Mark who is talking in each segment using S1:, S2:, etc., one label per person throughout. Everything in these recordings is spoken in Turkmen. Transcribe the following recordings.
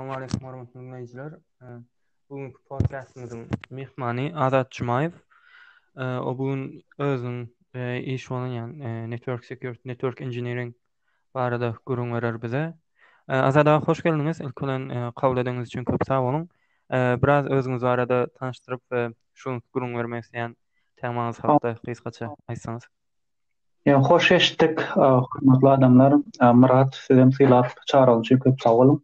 S1: Assalamualeykum hormatly dinleyijiler. Bu gün podcastymyzyň myhmany Azat Jumaýew. O bu gün özüniň iş bolan ýagny network security, network engineering barada gürrüň berer bize. Azat aga hoş geldiňiz. Ilki bilen kabul edeniňiz üçin köp sag boluň. Biraz özüňiz barada tanyşdyryp we şu gürrüň bermek isleýän temaňyz hakda gysgaça aýtsaňyz. Ýa hoş
S2: eşitdik, hormatly adamlar. Myrat, siz hem sylap çagyryň üçin köp sag boluň.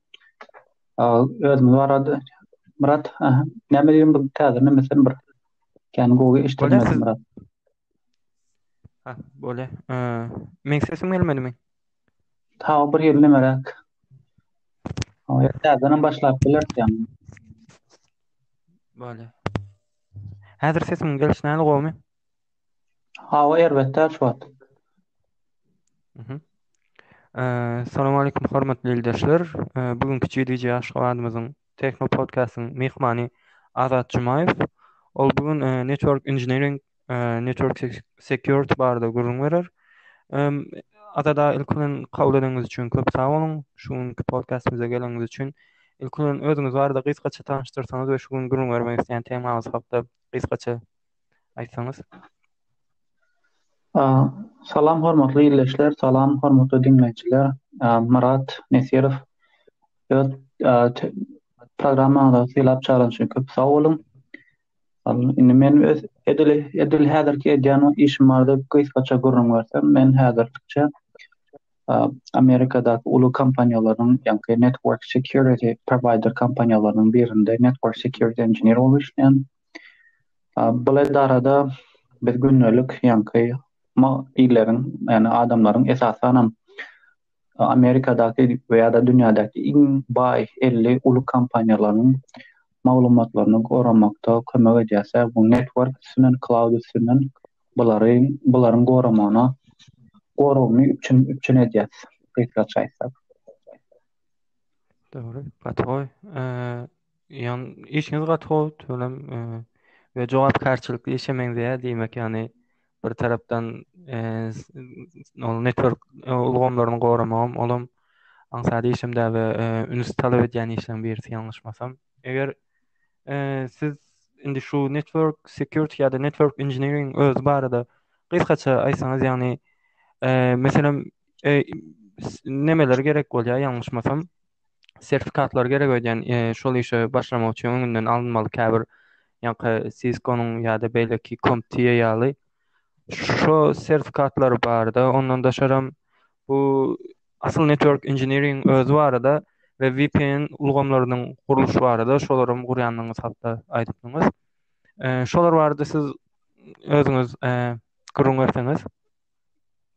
S2: Özümiz barada Myrat, näme diýiň bu täze näme sen bir kän gowy eşitmedim Myrat. Ha,
S1: bole. Men sesim gelmedimi? Ta
S2: bir ýyl nämeräk. O ýerden başlap bilersiň.
S1: Bole. Häzir sesim gelişnäli gowmy?
S2: Hawa erbetdä şu wagt. Mhm.
S1: Salam aleýkum hormatly ildeşler. Bu günki GDG Aşgabatymyzyň Techno Podcastyň myhmany Azat Jumaýew. Ol bu gün Network Engineering, Network Security barada gürrüň berer. Azat aga ilki bilen kabul edeniňiz üçin köp sag boluň. Şu günki podkastymyza geleniňiz üçin. Ilki bilen özüňiz barada gysgaça tanyşdyrsaňyz we şu gün gürrüň bermek isleýän temaňyz hakda gysgaça aýtsaňyz.
S2: Salam hormatly ildeşler, salam hormatly diňleýjiler. Myrat Nesirow öz programmaňyza sylap çagyranyň üçin köp sag boluň. Indi men öz edil edil häzirki edýän işim barada gysgaça gürrüň bersem, men häzirlikçe Amerikadaky uly kompaniýalaryň, ýagny network security provider kompaniýalarynyň birinde network security engineer bolup işleýän. Bul edarada biz gündelik ýaňky illeriň ýagny adamlaryň esasanam Amerikadaky we ýa-da dünýädäki iň baý elli uly kompaniýalaryň maglumatlaryny goramakda kömek edýäs ýa bu network üstünden cloud üstünden bulary bularyň goramagyna goragyny üpjün üpjün edýäs gysgaça aýtsak.
S1: Dogry gaty gowy. Ýan işiňiz gaty gowy tüwelem we jogapkärçilikli işe meňzeýär diýmek ýany bir tarapdan ol network ulgamlaryny goramagam olam aňsat işem däl we üns talap edýän işleň birisi ýalňyşmasam. Eger siz indi şu network security ýa-da network engineering özi barada gysgaça aýtsaňyz ýagny meselem nemeler gerek bolýar ýalňyşmasam. sertifikatlar gerek öýdýän şol işe başlamak üçin öňünden alynmaly käbir ýaňky siskonyň ýa-da beýleki komptiýa ýaly şo sertifikatlary barda ondan daşaram bu asyl network engineering özi barada we vpn ulgamlarynyň gurluşy barada şolaram gurýandygyňyz hakda aýdypdyňyz şolar barada siz özüňiz gürrüň berseňiz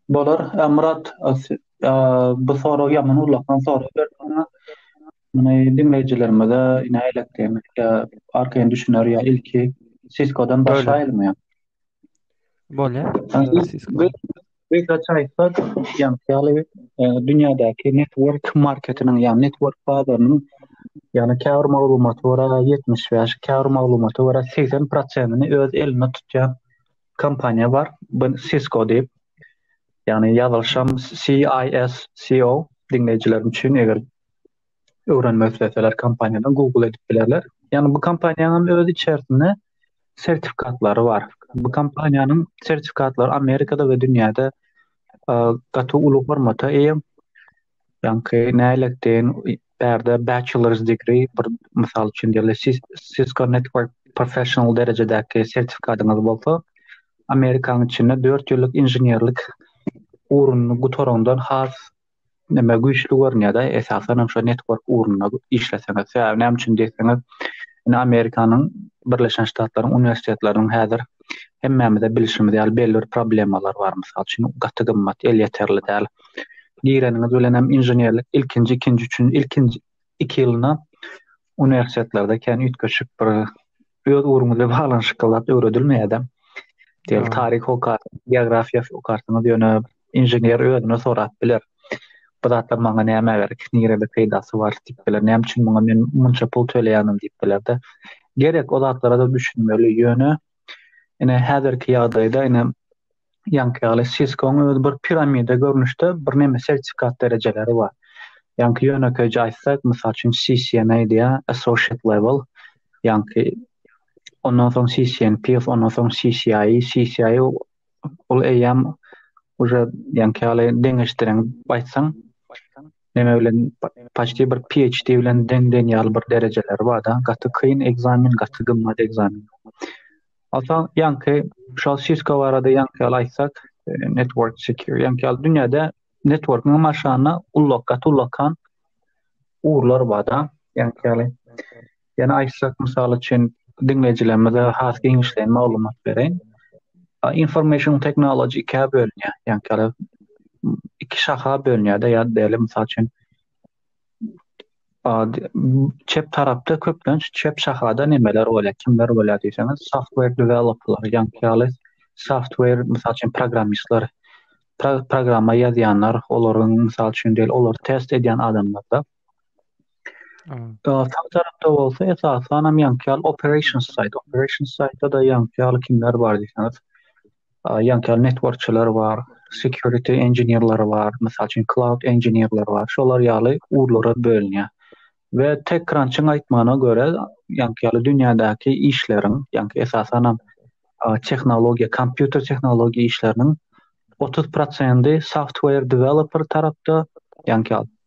S2: Bolar. Ä Myrat, bu sorag ýaman ullakan sorag berdiň. Muny diňleýjilerimize nähilek diýmek ýa arkaýyn düşüner ýa ilki Cisco-dan başlaýylmy ýa?
S1: Bolýar.
S2: Gysgaça aýtsak, ýaňky ýaly dünýädäki network marketiniň, ýa network bazarynyň, ýa-da käbir maglumata görä ýetmiş bäş, käbir maglumata görä segsen prosenini öz elinde tutýan kompaniýa bar. Bu Cisco diýip. Ýagny ýazylyşam CISCO diňleýjilerim üçin eger öwrenmek isleseler kompaniýadan Google edip bilerler. Ýagny bu kompaniýanyň öz içerisinde sertifikatlary bar. Bu kompaniýanyň sertifikatlary Amerikada we dünýäde gaty uly hormata eýe. Ýaňky nähili etdiň? Bärde bachelor's degree, bir mysal üçin diýeli, Cisco Network Professional derejedäki sertifikatyňyz bolsa, Amerikanyň içinde dört ýyllyk inženerlik ugruny gutaraňdan has näme güýçli görünýär-de, esasan hem şo network ugrunda işleseňiz. Sebäbi näme üçin diýseňiz, indi Amerikanyň Birleşen Ştatlaryň uniwersitetleriniň häzir hemmämiz-de bilşimiz ýaly belli bir problemalar bar. Mysal üçin, gaty gymmat, elýeterli däl. gireniňiz bilen hem inženerlik ilkinji ikinji üçin ilkinji iki ýylyna uniwersitetlerde kän üýtgeşik bir öz ugruňyza baglanyşykly zat öwredilmeýärdi. Diýel taryh okar, geografiýa okarsyňyz ýöne inžener özüne sorap biler. Bu zatlar maňa näme gerek, nirede peýdasy bar diýip biler. Näme üçin muňa men munça pul töleýänim diýip bilerde. Gerek o zatlara da düşünmeli ýöne ine häzirki ýagdaýda ine Ýaňky ýaly Cisco-nyň özi bir piramida görnüşde bir näme sertifikat derejeleri bar. Ýaňky ýönekeýje aýtsak, mysal üçin CCNA diýýär, associate level. Ýaňky ondan soň CCNP, ondan soň CCI, CCI ol eýýäm уже ýaňky ýaly deňeşdiren aýtsaň, näme bilen paçti bir PhD bilen deň deň ýaly bir derejeleri bar-da, gaty kyn ekzamen, gaty gymmat ekzamen. Ata ýaňky şol Cisco barada ýaňky ýaly aýtsak, network secure ýaňky ýaly dünýäde network-yň maşgala ullak gaty ullakan ugurlar bar-da ýaňky ýaly. Ýene aýtsak mysal üçin diňleýjilerimize has giňişleýin maglumat bereýin. Information technology ikä bölünýär ýaňky ýaly iki şaha bölünýär-de ýa-da däli mysal üçin çep tarapda köplenç çep şahada nemeler bolýar, kimler bolýar diýseňiz, software developerlar, ýaňky ýaly software, mysal üçin, programmistler, programma ýazýanlar, olaryň, mysal üçin, diýeli, olar test edýän adamlarda. Sag tarapda bolsa, esasan hem ýaňky ýaly operations side, operations side-da ýaňky ýaly kimler bar diýseňiz, ýaňky ýaly networkçiler bar, security engineerleri bar, mysal üçin cloud engineerleri bar, şolar ýaly ugurlara bölünýär. We TechCrunch-yň aýtmagyna görä, ýaňky ýaly dünýädäki işleriň, ýaňky esasan hem tehnologiýa, kompýuter tehnologiýa işleriniň otuz prosendi software developer tarapda, ýaňky ýaly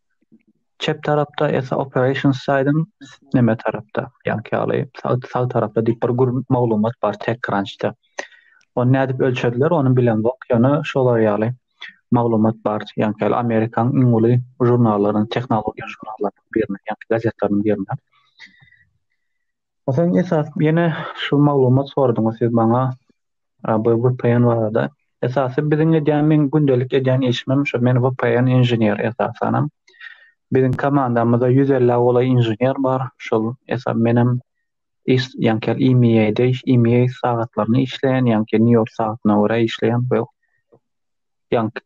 S2: çep tarapda esa operations saýdyň neme tarapda ýaňky ýaly sag tarapda diýip bir gür maglumat bar tek krançda ony nädip ölçediler ony bilen bok ýöne şolar ýaly maglumat bar ýaňky ýaly amerikan iň uly žurnallaryň tehnologiýa žurnallaryň birine ýaňky gazetleriniň birine Soň esas ýene şu maglumat sordyňyz siz maňa bu VPN barada. Esasy biziň edýän men gündelik edýän işimem şu men VPN inžener esasanam. Biziň komandamyzda 150 golaý inžener bar. Şol esas menem iş ýanker IMEA-de iş IMEA sagatlaryny işleýän ýanki New York sagatyna görä işleýän bu. Ýank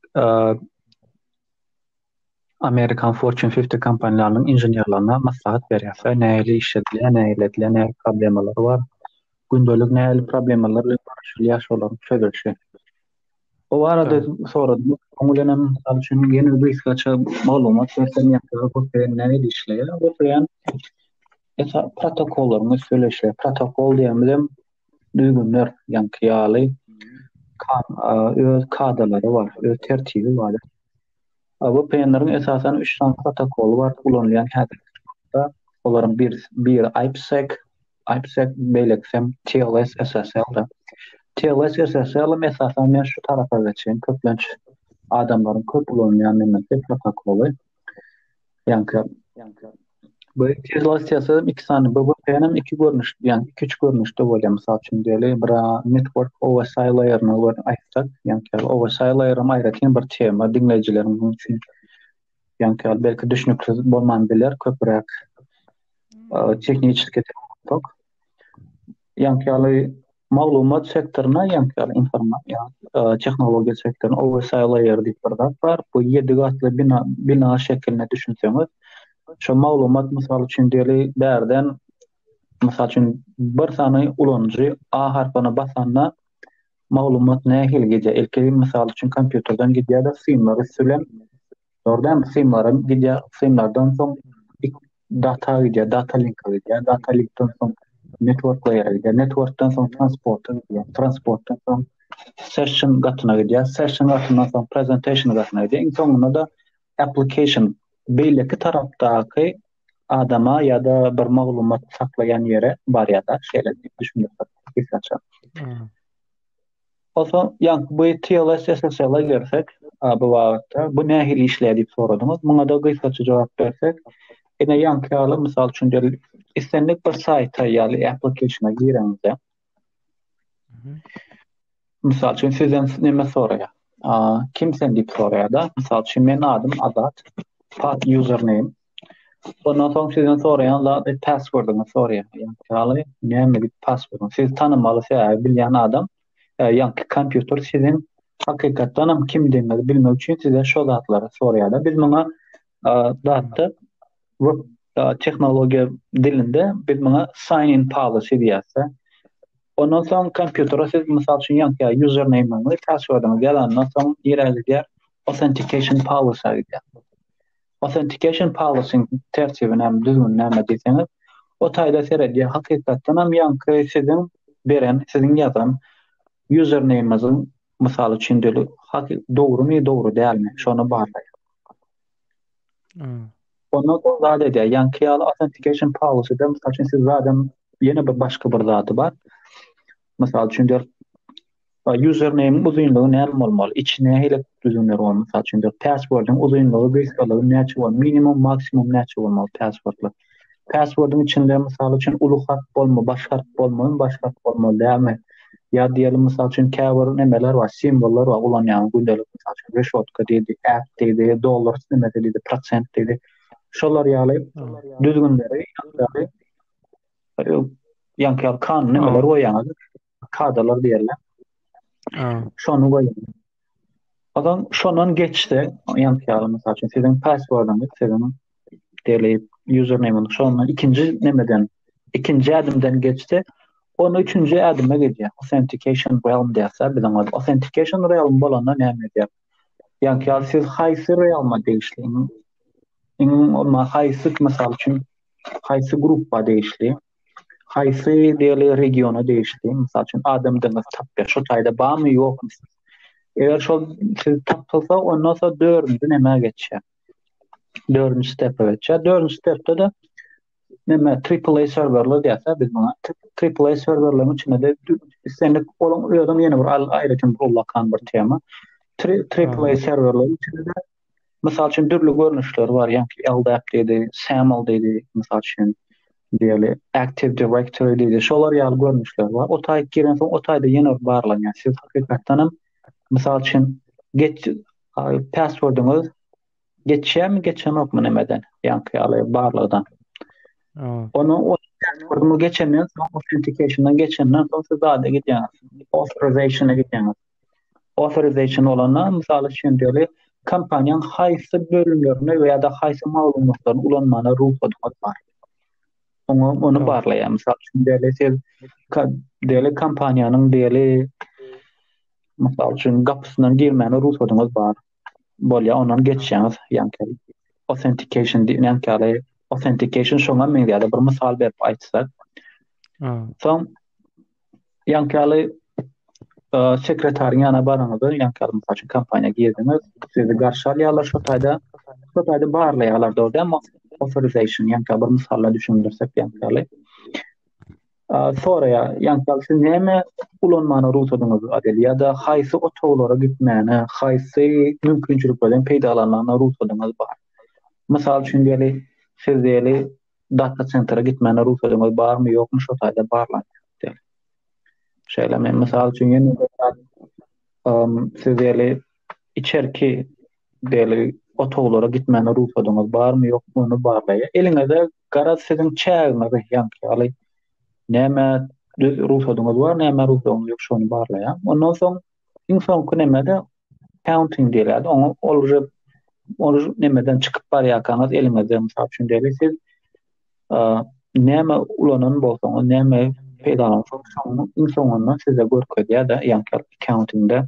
S2: Amerikan Fortune 50 kompaniýalarynyň inženerlerine maslahat berýär. Sen nähili iş edilýär, nähili edilýär, nähili problemalar bar. Gündelik nähili problemalar bilen görüşilýär, şolaryň çözülişi. O arada soradym, oň bilen hem mysal üçin ýene bir gaça maglumat berseň ýa-da bu sen nähili işleýär? Bu sen esa protokollaryň üstüne işleýär. Protokol diýenimiz hem düzgünler, ýaňky ýaly öz kadalary bar, öz tertibi bar. VPN-leriň esasan üç sany protokoly bar, ulanylýan häzirki wagtda. Olaryň birisi biri IPsec, IPsec beýlekisem TLS SSL-dir. TLS SSL-em esasan men şu tarapa geçen köplenç adamlaryň köp ulanýan nemedir protokoly. Ýaňky bu izolasiýasy iki sany bu hem iki görnüş, ýaňky iki üç görnüşde bolýar. Mysal üçin diýeli, bir network OSI layeryny görüp aýtsak, ýaňky OSI layer hem aýratyn bir tema diňleýjileriň üçin ýaňky belki düşnüksiz bolman biler, köpräk e, tehniçki tok. ýaňky ýaly maglumat sektoryna ýaňky ýaly informasiýa tehnologiýa sektoryna owersaý laýer diýip bir zat bar. Bu ýedi gatly bina bina şekilinde düşünseňiz, şu maglumat mysal üçin diýeli bärden mysal üçin bir sany ulanyjy A harpyna basanda maglumat nähili gidýär? Ilki misal üçin kompýuterden gidýär-de synlar üsti bilen Orada hem simlaram gidýär. Simlardan soň data gidýär, data linke gidýär. Data linkden soň network layer'e gidýär. Networkdan soň transporta gidýär. Transportdan soň session gatyna gidýär. Session gatyndan soň presentation gatyna gidýär. Iň soňunda da application beýleki tarapdaky adama ýa-da bir maglumat saklaýan ýere barýar-da, şeýle düşündirip geçen. Onsoň ýaňky bu TLS SSL-a gelsek, bu babatda bu nähili işleýär diýip soradyňyz. Muňa-da gysgaça jogap bersek, ine ýaňky ýaly, mysal üçin, islendik bir saýta ýaly application-a gireňizde, mysal üçin, sizden näme soraýar? Kim sen diýip soraýar-da. Mysal üçin, meniň adym Azat, pat username, Ondan soň sizden soraýan zady passwordyňy soraýar. Ýaly näme diýip passwordyň. Siz tanamaly sebäbi bilýän adam e, ýaňky kompýuter siziň hakykatdan hem kimdigiňizi bilmek üçin size şo zatlary soraýar. Biz muňa e, zatda web e, tehnologiýa dilinde biz muňa sign in policy diýýäs. Ondan soň kompýutere siz mysal üçin ýaňky username-iňizi, passwordyňyzy ýazandan soň ýere gidýär authentication policy diýýär. Authentication Policy-iň tertibi näme, düzgüni näme diýseňiz, o taýda seredýär. Hakykatdan hem ýaňky siziň beren, siziň ýazan username-iňiziň, mysal üçin, döli haky dogrumy, dogry dälmi, şony barlaýar. Hmm.
S1: Onda
S2: ol zat edýär. Ýaňky ýaly authentication policy-de, mysal üçin, siz zadam ýene bir başga bir zady bar. Mysal üçin, A username uzynlygy näme bolmaly? Içi nähili düzümler bar? Mysal üçin, password-yň uzynlygy, gysgalygy näçe bolmaly? Minimum, maksimum näçe bolmaly password-lar? Password-yň içinde mysal üçin uly harp bolmaly, baş harp bolmaly, baş harp bolmaly dälmi? Ýa diýeli mysal üçin käbir nemeler bar, simwollar bar, ulanýan gündelik mysal üçin reşotka diýdi, at diýdi, dollar nemesi diýdi, prosent diýdi. Şolar ýaly düzgünleri ýa-da ýa-da kanun nemeler goýýaňyz. kadalar diýerler. Şonu goýuň. Adam şondan geçse, ýan ýaly mysal üçin siziň passwordyňyz, siziň deli username-iň şondan ikinji nemeden, ikinji adymdan geçse, onu üçünji adyma geçýär. Authentication realm diýse, biziň ol authentication realm bolanda näme edýär? Ýan ýaly siz haýsy realma degişliňiz? Iň ma haýsy mysal üçin haýsy gruppa degişli? haýsy diýeli regiona degişli mysal üçin adam deňiz tapýar şu taýda barmy ýokmy eger şol siz tapylsa ondan soň dördünji näme geçýär dördünji stepe geçýär dördünji stepde de näme triple serwerler diýýär biz muňa triple serwerleriň içinde de islendik olaň özüň ýene bir aýratyn bir ulakan bir tema triple serwerleriň içinde de Mysal üçin, dürli görnüşleri bar, ýaňky LDAP diýdi, SAML diýdi, mysal üçin, diýeli, Active Directory diýdi, şolar ýaly görnüşleri bar. O taýy giren soň, o taýda ýene bir barlanýar. Siz hakykatdan hem, mysal üçin, geç, password-yňyz geçýärmi, geçenokmy nämeden, ýaňky ýaly barlagdan. Onu o password-yňyz geçenden soň, authentication-dan geçenden soň, siz zada gidýäňiz, authorization-a gidýäňiz. authorization bolanda, mysal üçin diýeli, kompaniýaň haýsy bölümlerini we ýa-da haýsy maglumatlaryny ulanmana rugsat bar. Oňa ony barlaýar. Mysal üçin diýeli, siz diýeli kompaniýanyň diýeli mysal üçin gapysyna girmäne rugsadyňyz bar. bolýar, ondan geçýäňiz, ýaňky authentication diýen ýaňky ýaly authentication şoňa meňzeýär, bir mysal berip aýtsak. Soň ýaňky ýaly e, sekretariň ýana baraňyzda, ýaňky ýaly mysal üçin kompaniýa girdiňiz, sizi garşy alýarlar, şo taýda şo taýda barlaýarlar, dogry, authorization ýaňky bir mysalla düşündirsek ýaňky ýaly. Soraýa, ýa da siz näme ulanmaga rugsadyňyz bar ýa-da haýsy otaglara gitmäne, haýsy mümkinçiliklerden peýdalanmagyna rugsadyňyz bar? Mysal üçin diýeli, siz diýeli data sentra gitmäne rugsadyňyz barmy, ýokmy şo taýda barlanýar diýeli. Şeýle men mysal üçin ýene-de siz diýeli içerki deli otaglara gitmäne rugsadyňyz barmy ýokmy ony barlaýa eliňize garaz siziň çägiňizi ýaňky ýaly näme düz rugsadyňyz bar näme rugsadyňyz ýok şony barlaýa ondan soň iň soňky nemede counting diýilýär oňa ol ol nemeden çykyp barýarkaňyz eliňize mysal üçin deli siz Näme ulanan bolsaňyz, näme peýdalansaňyz, şonuň iň soňunda size görkezýär-de, ýa-da accounting-de.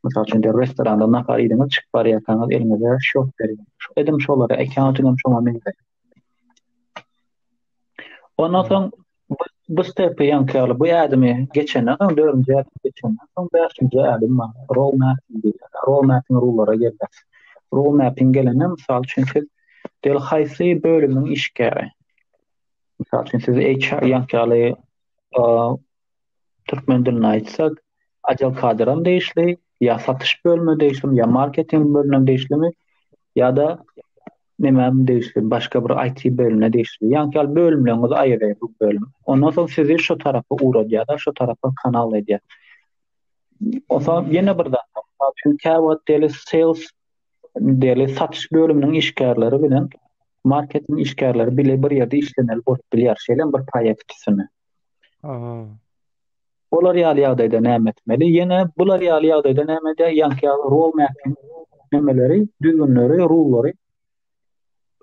S2: Mysal üçin, restoranda nahar iýdiňiz, çykyp barýarkaňyz eliňize şok berýär. Edim şolara accounting hem şoňa meňzeş. Ondan soň Bu stepy ýaňky ýaly bu ädimi geçenden soň dördünji ädimi geçenden soň bäşinji ädim bar. Row mapping diýilýär. Row mapping ruwlara gelýär. Row mapping gelende mysal üçin siz diýeli haýsy bölümiň işgäri. Mysal üçin siz HR ýaňky ýaly türkmen dilinde aýtsak ajal kadyram degişli, ýa satyş bölümine degişlimi, ýa marketing bölümine degişlimi, ýa-da nämem degişli, başga bir IT bölümine degişli. Ýa-da ýaly bölümleriňizi aýyrýar bu bölüm. Ondan soň sizi şu tarapa ugradýar, şu tarapa kanal edýär. Osa ýene bir zat, masalan, şu käwagt deli sales deli satyş bölüminiň işgärleri bilen marketing işgärleri bile bir ýerde işlemeli bolup bilýär, şeýle bir proýekt üstünde. Aha. Olar ýaly ýagdaýda näme etmeli? Ýene bular ýaly ýagdaýda näme edýär? Ýaňky ýaly rol mapping nämeleri, düzgünleri, rullary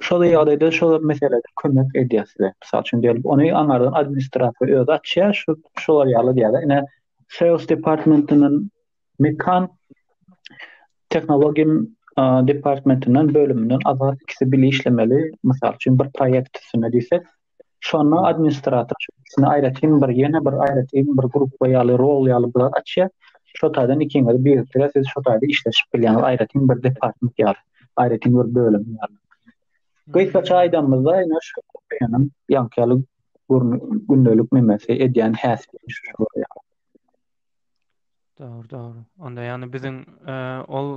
S2: şol ýagdaýda şol meselede kömek edýär size. Mysal üçin diýelim, ony aňardan administrator özi açýar, şu şolar ýaly diýýär. Ine, sales departmentinden Mekan tehnologiýa departmentinden bölümden azat ikisi bile işlemeli. Mysal üçin bir proýekt üstünde diýsek, şonda administrator ikisini aýratyn bir ýene bir aýratyn bir gruppa ýaly rol ýaly bular açýar. Şo taýdan ikiňiz birlikde siz şo taýda işleşip bilýäňiz aýratyn bir department ýaly, aýratyn bir bölüm ýaly. Gysgaça aýdanymyzda, ýa şu ýanym ýaňky ýaly gündelik memesi edýän häsiýeti şu ýaly. Dogry,
S1: dogry. Onda ýagny biziň ol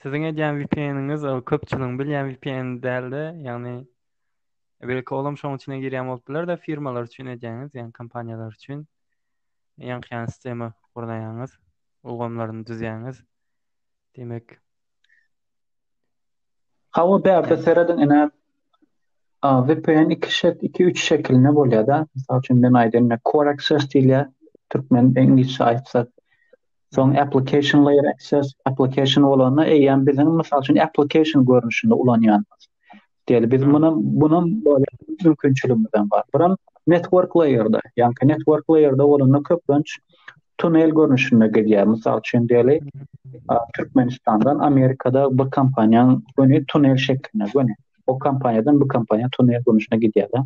S1: siziň edýän VPN-iňiz ol köpçüligiň bilýän VPN däldi. Ýagny belki olam şoň üçin girýän bolup biler de firmalar üçin edýäňiz, ýagny kompaniýalar üçin ýaňky ýagny sistema gurnaýaňyz, ulgamlaryny düzýäňiz. Demek,
S2: Hawa bärde serediň ene VPN iki şek iki üç şekilinde bolýar da. Mysal üçin men aýdýan core access diýilýär. Türkmen ingilisçe aýtsak. Soň application layer access application bolanda eýýäm biziň mysal üçin application görnüşinde ulanýanymyz. Diýeli biz muny muny bolýa mümkinçiligimiz hem bar. Buram network layer-da, ýa-da network layer-da bolanda köplenç tunel görnüşinde gidýär. Mysal üçin diýeli, Türkmenistandan Amerikada bir kompaniýanyň göni tunel şeklinde göni. O kompaniýadan bu kompaniýa tunel görnüşinde gidýär.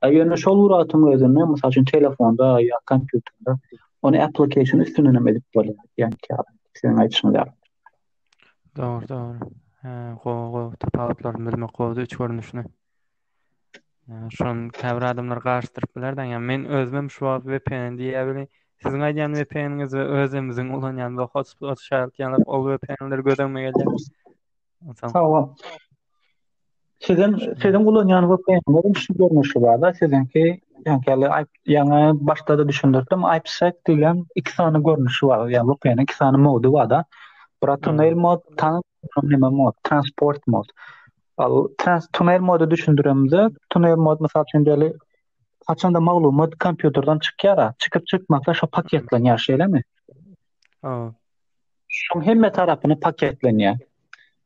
S2: Ýöne şol uratyň özünde, mysal üçin telefonda ýa kompýuterde ony application üstünden hem edip bolýar. Ýa-da sen aýtsaň ýa.
S1: Dogry, dogry. Hä, gowy, gowy. Tapawutlaryny bilmek gowudy, üç görnüşini. Ýa, şony käbir adamlar garyşdyryp biler daň. Ýa, men özümem şu wagt VPN diýýä weli, siziň aýdýan VPN-iňiz we özümiziň ulanýan bu hotspot şaýatlyk ýaly ol VPN-ler göz öňüme gelýär. Sag bol.
S2: Sizin sizin ulanýan VPN-leriň şu görnüşi bar-da, siziňki ýaňky ýaňa başda-da düşündirdim, IPsec diýlen iki sany görnüşi bar, ýa-ni VPN-iň iki sany mody bar-da. Bir tunnel mod, tan neme mod, transport mod. Al trans tunnel mody düşündiremde, tunnel mod mysal üçin deli haçanda maglumat kompýuterden çykýar, çykyp çykmasa şo paketlenýär, şeýlemi? Ha.
S1: Şoň
S2: hemme tarapyny paketlenýär.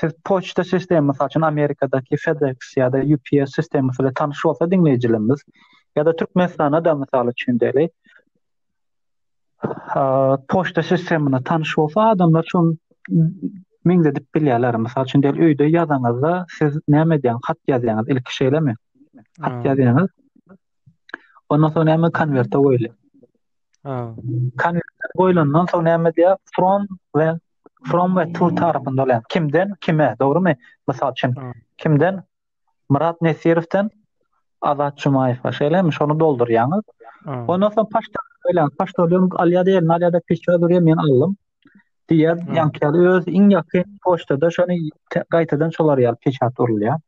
S2: Siz poçta sistemi, mysal üçin Amerikadaky FedEx ýa-da UPS sistemasy bilen tanyş bolsa diňleýjilerimiz, ýa-da Türkmenistanda da mysal üçin däli, poçta sistemine tanyş bolsa adamlar şun meňzedip bilýärler. Mysal üçin däli öýde ýazaňyzda siz näme edýäňiz? Hat ýazýaňyz, ilki şeýlemi? Hat ýazýaňyz. Ondan soň näme konwerte goýulýar? Ha. Konwerte goýlandan soň näme diýýär? From we from we to tarapynda bolýar. Kimden kime, dogrumy? Mysal üçin, kimden? Myrat Nesirowden Azat Jumaýewa, şeýlemi? Şony doldurýaňyz. Ondan soň paşta bilen paşta bilen alýar diýen, alýar-da peçe durýar, men aldym. Diýer, ýaňkyýar öz iň ýakyn poçtada şony gaýtadan şolar ýaly peçat urulýar.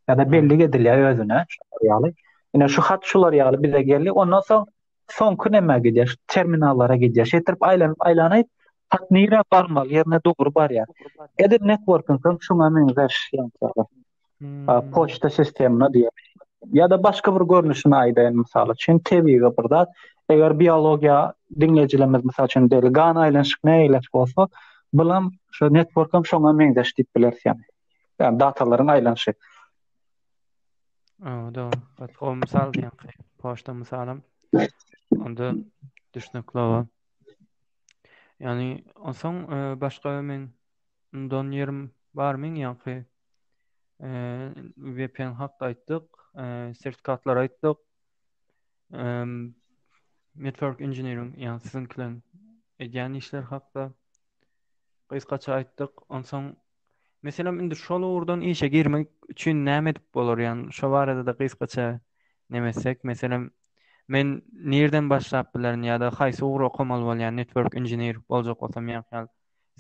S2: Ýa-da bellik edilýär özüne, şolar ýaly. Ine şu hat şular ýaly bize geldi. Ondan soň soňky nämä gidýär? Şu terminallara gidýär. Şeýtirip aýlanyp aýlanyp hat nirä barmaly ýerine dogry barýar. Edil networking hem şuňa meňzeş ýantaga. Hmm. Poçta sistemine diýip. Ya da başga bir görnüşini aýdaýyn mysal üçin tebigy bir zat. Eger biologiýa diňleýjilerimiz mysal üçin deli gan aýlanyşyk ne ýerleş bolsa, bulam şu network hem şoňa meňzeş diýip bileris ýa. Yani datalaryň aýlanyşy.
S1: Aa, dogry. Gat o mysal diýenki, poçta mysalym. Onda düşnükli o. Ýani, onsoň e, başga men undan ýerim bar men ýanky e, VPN hakda aýtdyk, e, sertifikatlar aýtdyk. E, network engineering, ýani siziňkileň edýän işler hakda gysgaça aýtdyk. Onsoň Meselem indi şol ugurdan işe girmek üçin näme edip bolar ýagny şo barada-da gysgaça näme etsek meselem men nirden başlap bilerin ýa-da haýsy ugry okamaly bolýan network engineer boljak bolsam ýa-da ýaly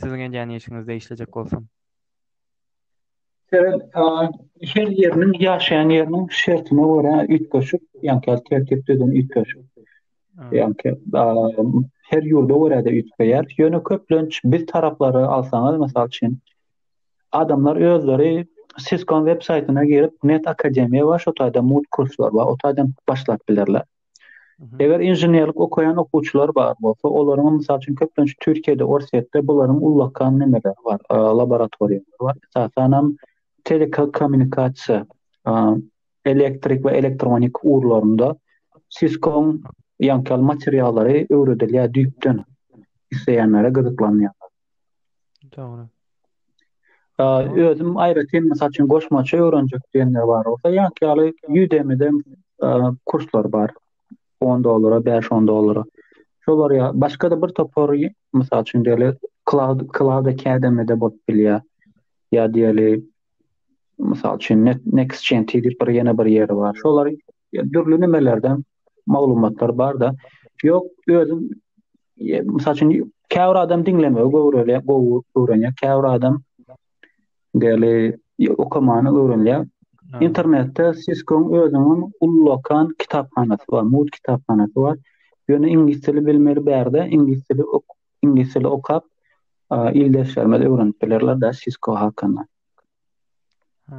S1: siziň edýän işiňizde işlejek bolsam.
S2: Sebäbi her ýeriniň ýaşaýan ýeriniň şertine görä üýtgeşik ýa-da tertip düzümi üýtgeşik. Ýa-da daýanym her ýurda görä-de üýtgeýär. Ýöne köplenç biz taraplary alsaňyz, mysal üçin, adamlar özleri Cisco-nyň web saýtyna girip, Net Akademiýa bar, şo taýda MUT kurslar bar, o taýdan başlap bilerler. Eger
S1: inženerlik
S2: okaýan okuwçylar bar bolsa, olaryň mysal üçin köplenç Türkiýede, Orsýetde bularyň ullakan nemeleri bar, laboratoriýalary bar. Esasanam telekommunikasiýa elektrik we elektronik ugurlarynda Cisco-nyň ýaňky materiallary öwredilýär düýpden isleýänlere gyzyklanýarlar.
S1: Dogry. Özüm aýratyn
S2: mysal üçin goşmaça öwrenjek diýenler bar bolsa, ýaňky ýaly Udemy-de kurslar bar. 10 dollara, 5-10 dollara. Şolar ýa başga-da bir topar mysal üçin diýeli Cloud Cloud Academy-de bolup bilýär. Ýa diýeli Mysal üçin, NextGen diýip bir ýene bir ýeri bar. Şolar dürli nimelerden maglumatlar bar-da. Ýok, özüm mysal üçin käbir adam diňlemegi göwreli, gowy öwrenýär, käbir adam deli okamany öwrenýär. Internetde Cisco-nyň özüniň ullakan kitaphanasy bar, MUT kitaphanasy bar. Ýöne iňlis dili bilmeli bärde, iňlis dili iňlis dili okap, ildeşlerimiz öwrenip bilerler da Cisco hakynda. Ha,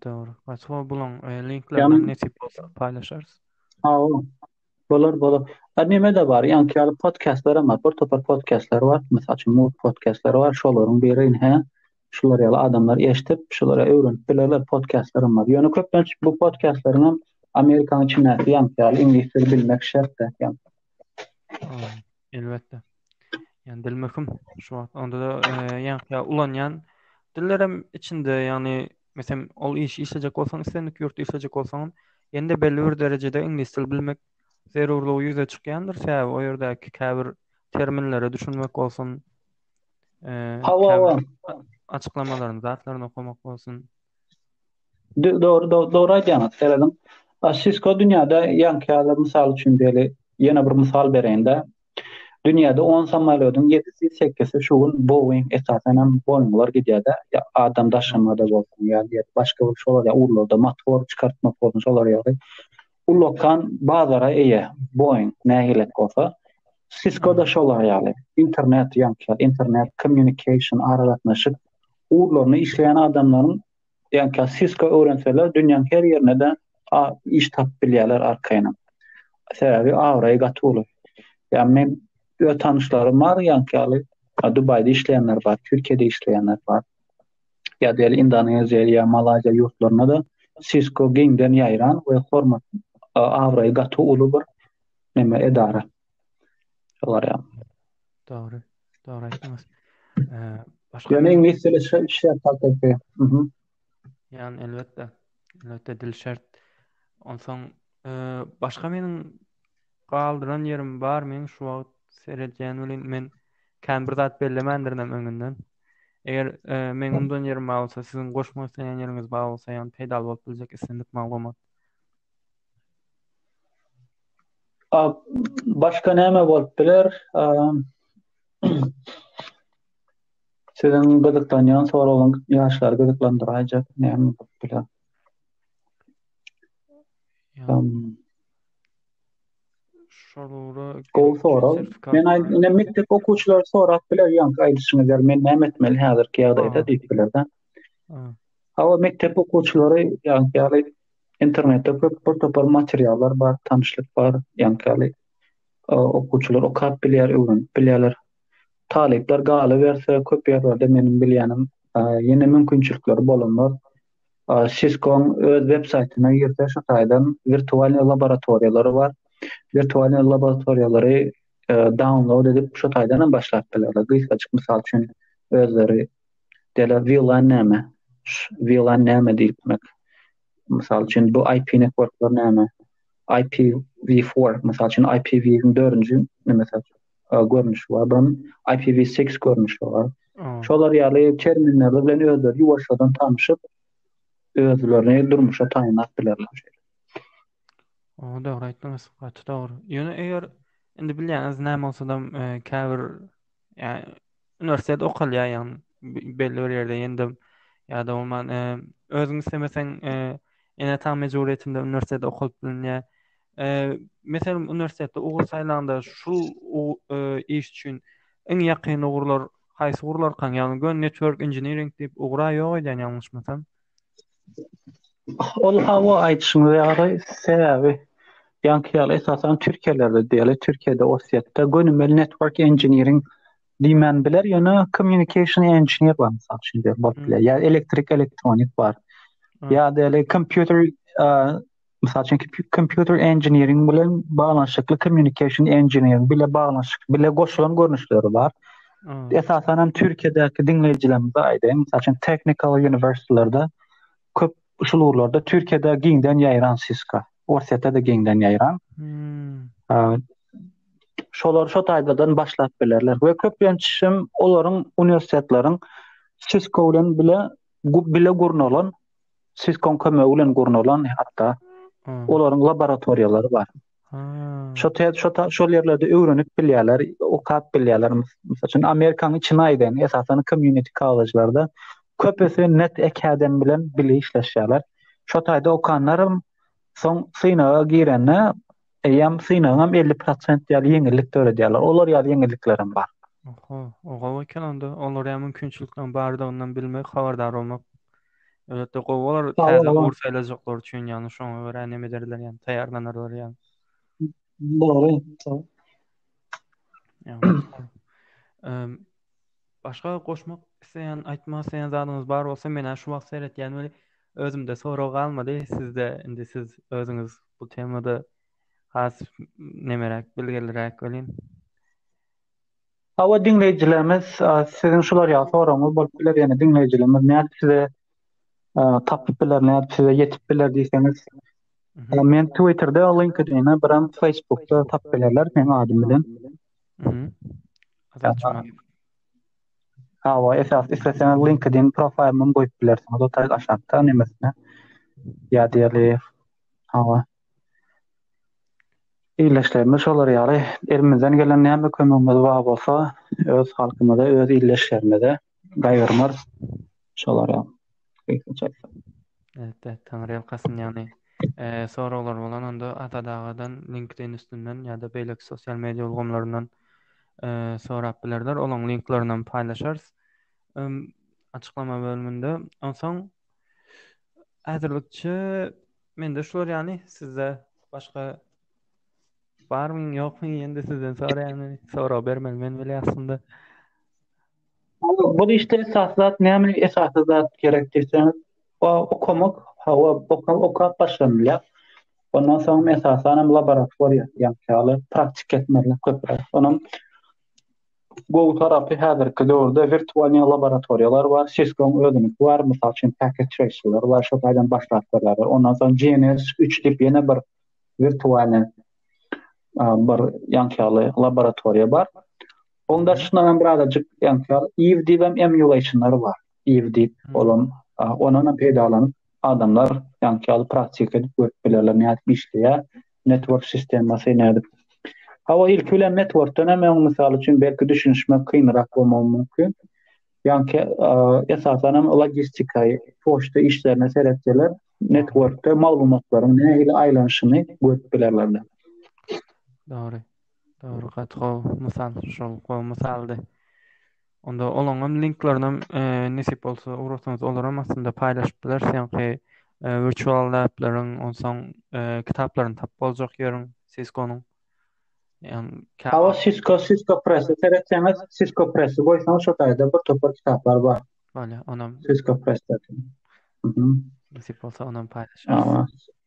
S2: dogry. Açyk buluň, e, linklerini
S1: nesip bolsa paýlaşarys. Ha,
S2: bolar, bolar. Ha, näme de bar, ýaňky ýaly podkastlar hem bar, bir topar podkastlar bar, mysal üçin, mut podkastlar bar, şolaryň biri, hä? Şular ýaly adamlar eşitip, şulara öwrenip bilerler, podkastlar hem bar. Ýöne köplenç bu podkastlaryň hem Amerikanyň içindäki ýaňky ýaly iňlis dili bilmek şert däl.
S1: Elbetde. Yani dil möhüm. Şu wagt onda da ýa-da e, ulanýan dillerem içinde, ýagny meselem ol iş işlejek bolsaň, islendik ýurtda işlejek bolsaň, ýende belli bir derejede iňlis dil bilmek zerurlygy ýüze çykýandyr. Sebäbi o ýerdäki käbir terminlere düşünmek bolsun. E, Hawa,
S2: açyklamalaryny,
S1: zatlaryny okamak bolsun. Dogry,
S2: dogry aýdýaňyz, serediň. Cisco dünýäde ýaňky ýaly, mysal üçin beýle ýene bir mysal bereýin-de. Dünýäde on samolýodyň ýedisi, sekisi şu gün Boeing esasan hem Boeing-lar gidýär-de, adam daşamada bolsun ýa başga bir şolar ýaly ugurlarda motor çykartmak bolsun şolar ýaly ulakan bazara eýe Boeing näme gerek bolsa Cisco-da şolar ýaly internet ýaňky internet kommunikasiýa aragatnaşyk ugurlarynda işleýän adamlaryň Diýen kä Cisco öwrenseler dünýäň her ýerinde iş tapyp bilýärler arkaýyn. Sebäbi abraýy gaty uly. Ýa men öz tanyşlarym bar ýa käli Dubaýda işleýänler bar, Türkiýede işleýänler bar. Ýa diýeli Indoneziýa ýa Malaýziýa ýurtlarynda da Cisco giňden ýaýran we hormat abraýy gaty uly bir neme edara. Şolar ýa. Dogry.
S1: Dogry aýtdyňyz. Başga Ýöne iňlis dili
S2: şert hakykatda.
S1: Mhm. Ýan elbetde. Elbetde dil şert. Onsoň başga meniň galdyran ýerim bar men şu wagt seredýän welin men kän bir zat bellemändirin öňünden. Eger e, men undan ýerim bar bolsa, siziň goşmak isleýän ýeriňiz bar bolsa, ýa peýdaly bolup biljek islendik maglumat.
S2: Başga näme bolup biler? Siziň gyzyklanýan soragyň ýaşlary gyzyklandyraýjak näme bolup biler?
S1: Şolora gowy sorag.
S2: Men aýdýan mekdep okuwçylary sorap biler, ýa-da aýdyşyňyz ýaly men näme etmeli häzirki ýagdaýda diýip biler-de. Hawa, mekdep okuwçylary ýa-da Internetde köp bir topar materiallar bar, tanyşlyk bar, ýaňky okuwçylar okap bilýär, öwrenip bilýärler. Talyplar galyberse, köp ýerlerde meniň bilýänim ýene mümkinçilikleri bolanlar Cisco-nyň öz websaýtyna girse, şu taýdan wirtualnyý laboratoriýalary bar. Wirtualnyý laboratoriýalary download edip, şu taýdan hem başlap bilerler. Gysgajyk mysal üçin özleri Dela VLAN näme? VLAN näme diýmek? Mysal üçin bu IP networklar näme? IPv4 mysal üçin IPv4-iň 4-nji näme görnüşi bar, bir IPv6 görnüşi bar. Şolar ýaly terminler bilen özleri ýuwaşjadan tanşyp, özlerini durmuşa taýynlap bilerler. O, dogry aýtdyňyz,
S1: gaty dogry. Ýöne eger indi bilýäňiz näme bolsa-da e, käbir Yani üniversitede okalýar yani belli bir ýerde ýa-da ýa-da bolman e, özüň islemeseň e, ene ata mejburiyetinde üniversitede okalyp bilinýär. E, meselem üniversitede ugur saýlanda şu e, iş üçin iň ýakyn ugurlar haýsy ugurlar kan? Yani gön network engineering diýip ugra ýok edýän ýalňyşmasam.
S2: Ol hawa aýdyşyňyza ýaly sebäbi ýaňky ýaly esasan türkiýelerde diýeli türkiýede orsýetde gönümel network engineering diýmän biler ýöne communication engineer bar mysal üçin diýeli bolup biler ýa elektrik
S1: elektronik
S2: bar ýa-da
S1: kompýuter
S2: Mysal üçin, kompýuter engineering bilen baglanyşykly communication engineering bile baglanyşyk, bile goşulan görnüşleri bar. Hmm. Esasan
S1: hem Türkiýedäki
S2: diňleýjilerimize aýdaýyn, mysal üçin technical uniwersitetlarda köp şu ugurlarda Türkiýede giňden ýaýran Cisco, Orsýetde de giňden ýaýran.
S1: Hmm.
S2: Şolar şu taýdan başlap bilerler we köplenç hem olaryň uniwersitetleriň Cisco bilen bile bile gurnalan Cisco-nyň kömegi bilen gurnalan hatda olaryň
S1: laboratoriýalary
S2: bar. Şo
S1: şo şol
S2: ýerlerde öwrenip bilýärler, okap bilýärler. Mysal üçin Amerikanyň içine aýdan, esasan community kollejlerde köpüsi net academy bilen bile işleşýärler. Şo taýda okanlarym soň synaga girende Eýýäm synagyňam elli prosent ýaly ýeňillik döredýärler. Olar ýaly ýeňilliklerem bar. Oho, o gowy
S1: eken onda. Olara mümkinçilikleriň bardygyny bilmek, habardar bolmak elbetde gowy bolar. Täze ugry saýlajaklar
S2: üçin
S1: ýagny şoňa görä näme ederler ýagny taýýarlanarlar ýagny.
S2: Dogry.
S1: Başga goşmak isleýän, aýtmak isleýän zadyňyz bar bolsa, men-ä şu wagt seretýän weli, Özümde sorag galmady sizde indi siz özüňiz bu temada has nemeräk bilgiliräk welin. Hawa
S2: diňleýjilerimiz siziň şular ýaly soragyňyz bolup biler ýene diňleýjilerimiz nädip size tapyp biler nädip size ýetip biler diýseňiz men
S1: twitterde
S2: linkedine biram facebookda tapyp bilerler meň adym bilen. Hawa, esas isleseňiz LinkedIn profaýlyny goýup bilersiňiz. O taýda aşakda nemesine. Ýa diýeli. Hawa. Illeşlerimiz şolar ýaly. Elimizden gelen näme kömegimiz bar bolsa, öz halkymyza, öz illeşlerimize gaýgyrmaz. şolara gysgaça aýtsak. Elbetde,
S1: taňryýalkasyn, ýagny soraglar bolan onda Azat agadan LinkedIn üstünden ýa-da beýleki sosial media ulgamlaryndan sorap bilerler, olaň linklaryny hem paýlaşarys açyklama bölüminde. Onsoň häzirlikçe mende şular ýaly, sizde başga barmy, ýokmy, ýene-de sizden soraýan, sorag bermeli men weli aslynda.
S2: Bu işde esasy zat näme? Esasy zat gerek diýseňiz, o okamak, hawa, okap, okap başlanylýar. Ondan soň esasan hem laboratoriýa, ýa-da praktik etmeli köpräk. Onuň gowy tarapy häzirki döwürde wirtualnyý laboratoriýalar bar, Cisco-nyň özüniňki bar, mysal üçin, Packet Tracer-lar bar, şol taýdan başlap berýärler. Ondan soň GNS üç diýip ýene bir wirtualnyý bir ýaňky ýaly laboratoriýa bar. Onuň daşyndan hem birazajyk ýaňkyýar iw diýip hem emulationlar bar. Iw diýip olam ondan hem peýdalanyp adamlar ýaňkyýar praktik edip görüp bilerler nädip işleýär network sistemasy nädip. Hawa ilki bilen networkdan hem öň mysal üçin belki düşünişmek kynrak bolmagy mümkin. Ýaňky esasan hem logistika, poçta işlerine seretseler networkda maglumatlaryň nähili aýlanyşyny görüp bilerler. Dogry.
S1: Dogry gaty gowy mysal şol gowy mysaldy. Onda olaňam linklerinem nesip bolsa ugrasaňyz olaram aslynda paýlaşyp bileris ýaňky virtual lableriň onsoň kitaplaryny tapyp boljak ýörüň siskonyň. Hawa sisko
S2: sisko press seretseňiz sisko press goýsaňyz şo taýda bir topar kitaplar bar. Bolýar onam.
S1: Sisko press. Nesip bolsa onam paýlaşarys.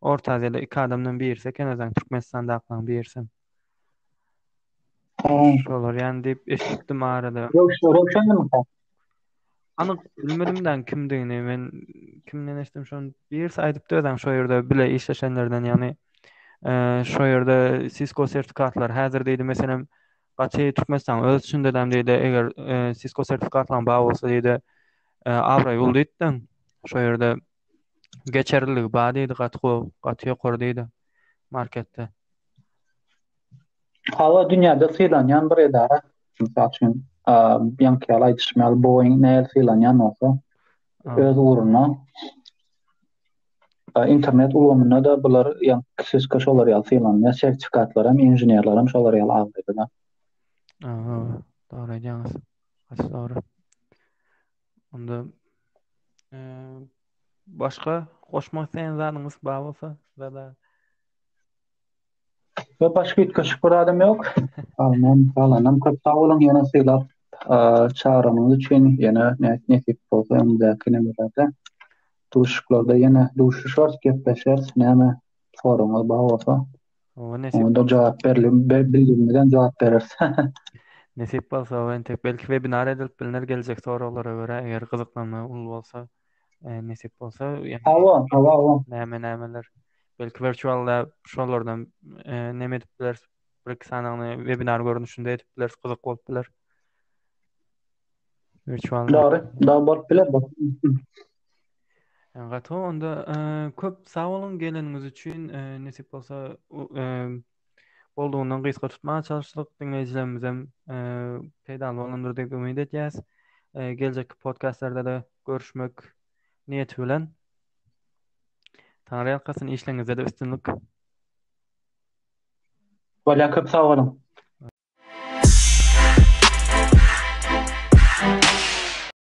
S1: Orta Aziýada iki adamdan birisi eken özem Türkmenistandakylaryň birisem. Şolar ýany diýip eşitdim arada. Röwşenmi? Anyk bilmedim dan kimdigini men kimden eşitdim şony birisi aýdypdy özem şu ýerde bile işleşenlerden ýagny şu ýerde Cisco sertifikatlar häzir diýdi meselem gaty Türkmenistan öz içinde däm diýdi eger Cisco sertifikatlaryň bar bolsa diýdi abraý ul diýdi şu ýerde geçerliligi bar diýdi gaty gowy gaty ýokary diýdi marketde.
S2: Hawa dünýäde sylanýan bir edara. Mysal üçin, ýaňky ýaly aýdyşym ýaly Boeing näl sylanýan bolsa öz ugruna internet ulgamynda da bular ýaňky kişiske şolar ýaly sylanýar. Sertifikatlar hem, inženerler hem şolar ýaly agzaýar. Aha,
S1: dogry aýdýaňyz. Gaty dogry. Onda eee başga goşmak isleýän zadyňyz bar bolsa ýa-da
S2: Ýok başga üýtgeşik bir adam ýok. Alnan, alanam köp sag boluň ýene sylap eee, çagyranyňyz üçin ýene ne- nesip bolsa öňündäki nimelerde duşuşyklarda ýene duşuşarys, gepleşeris. Näme soragyňyz bar bolsa. Oňa nesip Onda
S1: jogap berlip
S2: bildirimizden jogap bereris. Nesip
S1: bolsa o entek belki webinar edilip bilner geljek soraglara görä eger gyzyklanma uly bolsa e, nesip bolsa yani Hawa, hawa, hawa. näme
S2: nämeler
S1: belki virtual lab şolardan e, neme edip bileris bir iki sanagyny webinar görnüşinde edip bileris gyzyk bolup biler. Virtual lab. Dogry, dogry bolup biler
S2: bu.
S1: Gaty onda köp sag boluň geleniňiz üçin. Nesip bolsa boldugyna gysga tutmaga çalyşdyk. Diňleýjilerimiz hem peýdaly bolandyr diýip umyt edýäs. Geljekki podkastlarda-da görüşmek niýeti bilen. Taňry ýalkasyn, işleriňizde-de üstünlik.
S2: Bolýa
S1: köp sag
S2: boluň.